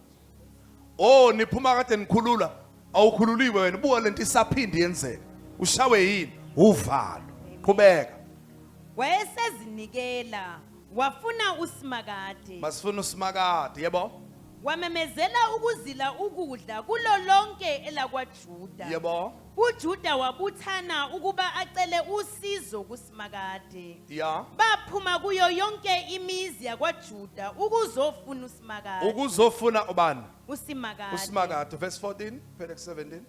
oh niphuma kade nikhulula awukhululiwe wena buka lento isaphindi yenzeka ushawe yini uvalo qhubeka wayesezinikela wafuna usimakade basifuna usimakade yebo Wamemezela ukuzila ukudla kulo lonke elakwaJuda. Yebo. UJuda wabuthana ukuba acele usizo kuSimakade. Ya. Baphuma kuyo yonke imizi yakwaJuda ukuzofuna uSimakade. Ukuzofuna ubani? USimakade. USimakade verse 14 phela 17.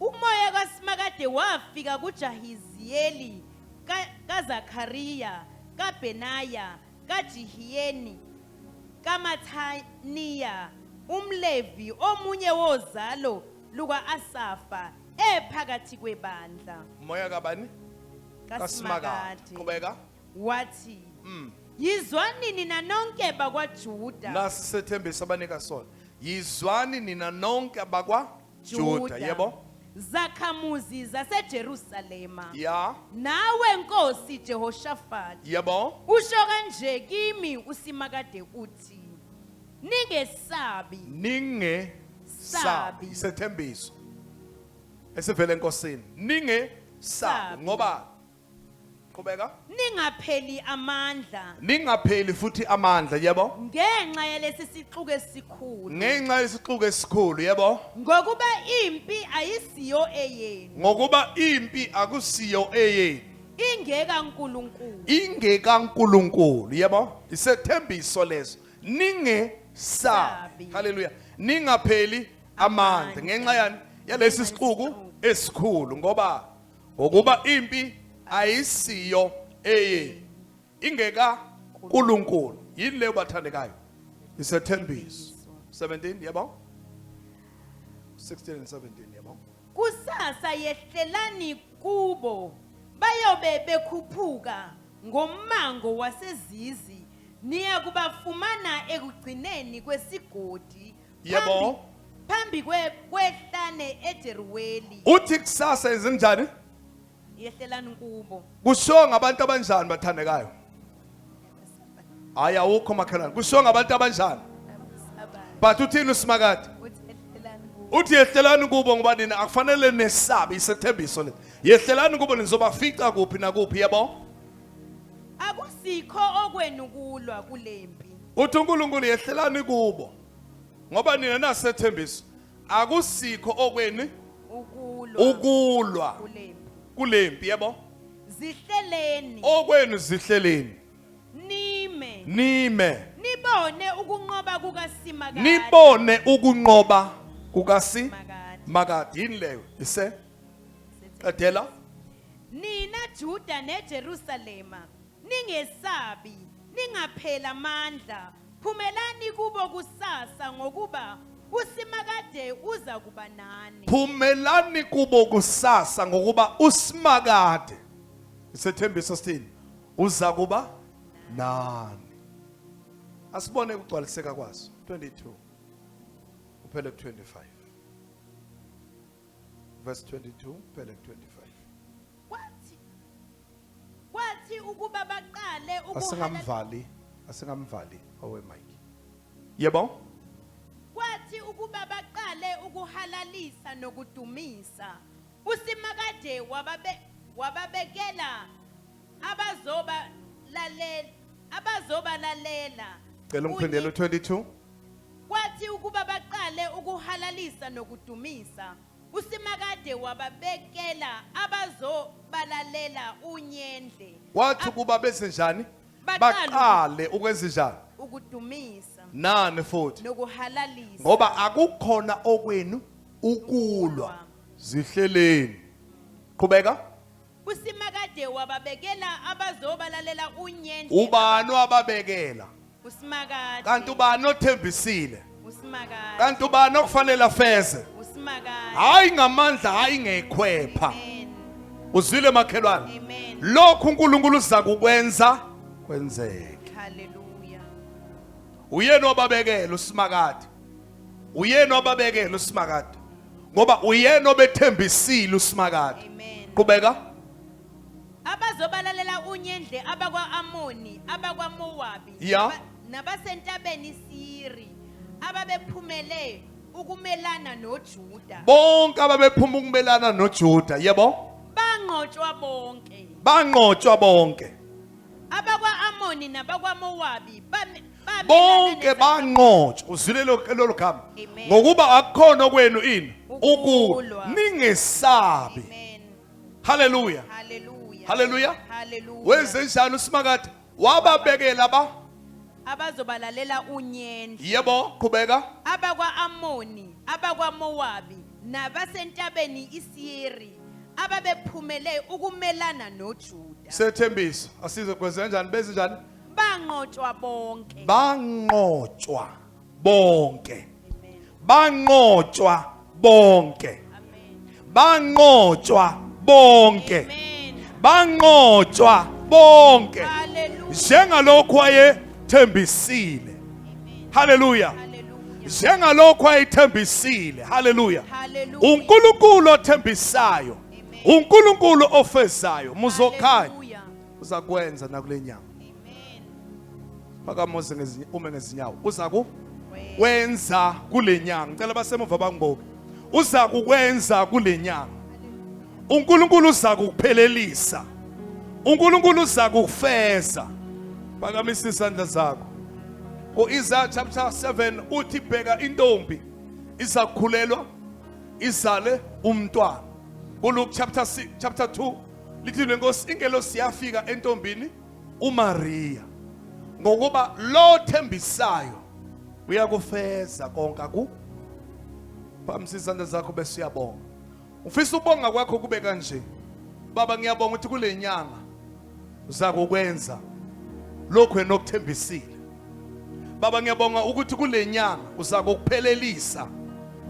Umoya kaSimakade wafika kuJahiziyeli ka- kaZakhariya kaBenaya kaJihiyeni kaMathaniya umLevi omunye wozalo luka-Asafa ephakathi kwebandla. Moya kabani? KaSimakade. Qhubeka. Wathi, Mm. Yizwani nina nonke bakwaJuda. Nasi sethembiso abanika sona. Yizwani nina nonke abakwa Juda, yebo. zakhamuzi zaseJerusalema Ya, nawe nkosi Jehoshafati yebo. usho kanje kimi usimakade uthi ningesabi Ninge Sabi. sabi. Isethembiso. Esivele enkosini. Ninge sabi Sabi. ngoba qhubeka ningapheli amandla ningapheli futhi amandla yebo ngenxa yalesi sixuku esikhulu ngenxa yesixuku esikhulu yebo ngokuba impi ayisiyo eyenu ngokuba impi akusiyo eyenu ingeka uNkulunkulu ingeka uNkulunkulu yebo isethembiso leso ninge sabi haleluya ningapheli amandla ngenxa yani yalesi sixuku esikhulu ngoba ngokuba impi ayisiyo eyenu ingeka uNkulunkulu yini leyo bathandekayo isethembiso 17 yebo 16 and 17 yebo kusasa yehlelani kubo bayobe bekhuphuka ngommango wasezizi niya kubafumana ekugcineni kwesigodi yebo phambi kwe kwehlane eJeruweli uthi kusasa yenzenjani yehlelani kubo kushiwo ngabantu abanjani bathandekayo hayi awukho makhelwane kushiwo ngabantu abanjani but uthini usimakade uthi yehlelani kubo ngoba nina akufanele nesabe isethembiso le yehlelani kubo nizobafica kuphi nakuphi yabo akusikho okwenu kulwa kulempi uthi uNkulunkulu yehlelani kubo ngoba nina nasethembiso akusikho okweni ukulwa ukulwa kulempi kulempi yebo zihleleni okwenu zihleleni nime nime nibone ukunqoba kukaSimakade nibone ukunqoba kukasi Makade. makade yini leyo ise qedela nina Juda neJerusalema Ningesabi, ningapheli amandla, phumelani kubo kusasa ngokuba uSimakade uza kuba nani. Phumelani kubo kusasa ngokuba uSimakade isethembiso sithini? Uza kuba nani. Asibone ukugcwaliseka kwaso 22 uphele 25 verse 22 uphele 25 Kwathi Kwathi ukuba baqale ukuhala asingamvali asingamvali owe mike yebo kwathi ukuba baqale ukuhalalisa nokudumisa uSimakade wababe wababekela abazoba lalela abazoba lalela cela ungiphindele u22 kwathi ukuba baqale ukuhalalisa nokudumisa usimakade wababekela abazobalalela unyendle wathi ukuba benze njani Baqale uku- baqale ukwenza njani ukudumisa nani futhi nokuhalalisa ngoba akukhona okwenu ukulwa zihleleni qhubeka usimakade wababekela abazobalalela unyende ubani wababekela usimakade kanti ubani othembisile usimakade kanti ubani okufanele afeze usimakade hayi ngamandla hayi ngekhwepha amen uzwile makhelwane amen lokhu uNkulunkulu uza kukwenza kwenzeke hallelujah uyena obabekela usimakade uyena obabekela usimakade ngoba uyena obethembisile usimakade qhubeka abazobalalela unyendle abakwa-amoni abakwamowabi ya nabasentabeni isiri ababephumele ukumelana nojuda bonke ababephuma ukumelana nojuda yebo banqotshwa bonke banqotshwa bonke abakwa-amoni nabakwamowabi bonke banqotshwa uzwile lolu gama ngokuba akukhona okwenu ini ukulwa ningesabi haleluya haleluya wenze njani usimakade wababekela ba abazobalalela unyendo yebo qhubeka abakwa-amoni abakwamowabi nabasentabeni isiri ababephumele ukumelana nojuda sethembiso asize kwenze kanjani benze njani banqotshwa bonke banqotshwa bonke banqotshwa bonke banqotshwa bonke banqotshwa bonke njengalokhu ayethembisile haleluya njengalokhu ayethembisile haleluya uNkulunkulu othembisayo uNkulunkulu ofezayo muzokhanya uzakwenza nakule nyanga phakamoze ngezinye ume ngezinyawo uza ku wenza kule nyanga ngicela basemuva bangiboke uza kukwenza kule nyanga uNkulunkulu uza kukuphelelisa uNkulunkulu uza kukufeza phakamisa isandla zakho ku-Isaiah chapter 7 uthi bheka intombi izakhulelwa izale umntwana kuLuke chapter 6 chapter 2 Lithini lenkosi ingelosi yafika entombini uMaria ngokuba lo thembisayo uyakufeza konke ku Phamisa izandla zakho bese uyabonga. Ufisa ubonga kwakho kube kanje. Baba ngiyabonga ukuthi kulenyanga uzakukwenza lokho enokuthembisile. Baba ngiyabonga ukuthi kulenyanga uzako ukuphelelisa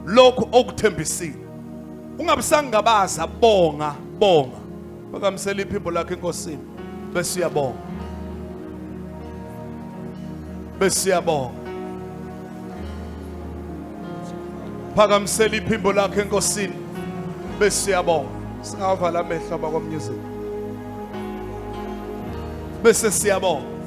lokho okuthembisile. Ungabisangabaza bonga bonga. Bakamsela iphimbo lakhe enkosini bese uyabonga. Bese uyabonga. Phakamisela iphimbo lakhe enkosini bese uyabonga. Singavala amehlo abakwamnyezini. bese siyabonga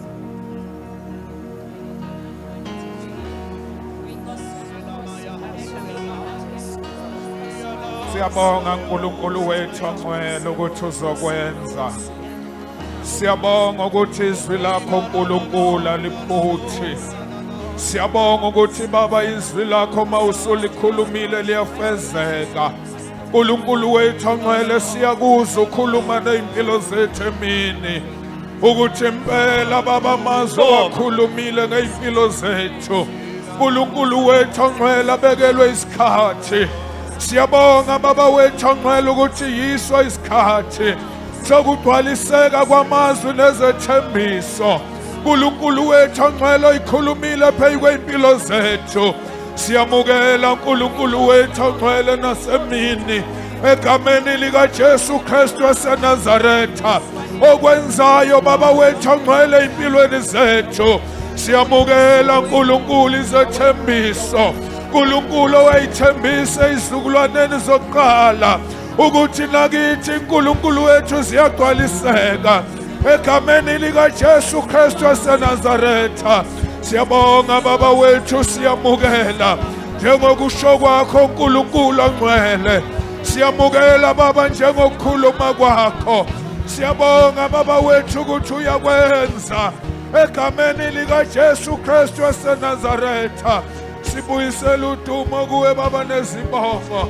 siyabonga uNkulunkulu wethu ongcwele ukuthi uzokwenza siyabonga ukuthi izwi lakho uNkulunkulu alifuthi siyabonga ukuthi baba izwi lakho mawusulikhulumile liyafezeka Nkulunkulu wethu ongcwele siyakuza ukhuluma nezimpilo zethu emini ukuthi impela baba mazwe wakhulumile ngezimpilo zethu uNkulunkulu wethu ongcwele abekelwe isikhathi siyabonga baba wethu ongcwele ukuthi yiso isikhathi sokugcwaliseka kwamazwi nezethembiso uNkulunkulu wethu ongcwele oyikhulumile phezu kwezimpilo zethu Siyamukela uNkulunkulu wethu ongcwele nasemini egameni likaJesu Kristu waseNazaretha okwenzayo baba wethu ongcwele impilweni zethu siyamukela uNkulunkulu izethembiso uNkulunkulu owayithembisa izizukulwaneni zokuqala ukuthi nakithi uNkulunkulu wethu ziyagcwaliseka egameni likaJesu Kristu waseNazaretha siyabonga baba wethu siyamukela njengokusho kwakho uNkulunkulu ongcwele siyamukela baba njengokukhuluma kwakho siyabonga baba wethu ukuthi uyakwenza egameni likaJesu Kristu waseNazaretha sibuyisela udumo kuwe baba nezibongo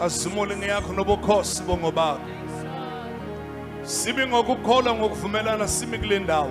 Azimule ngeyakho nobukhosi bongobaba. Sibi ngokukholwa ngokuvumelana simi kule ndawo.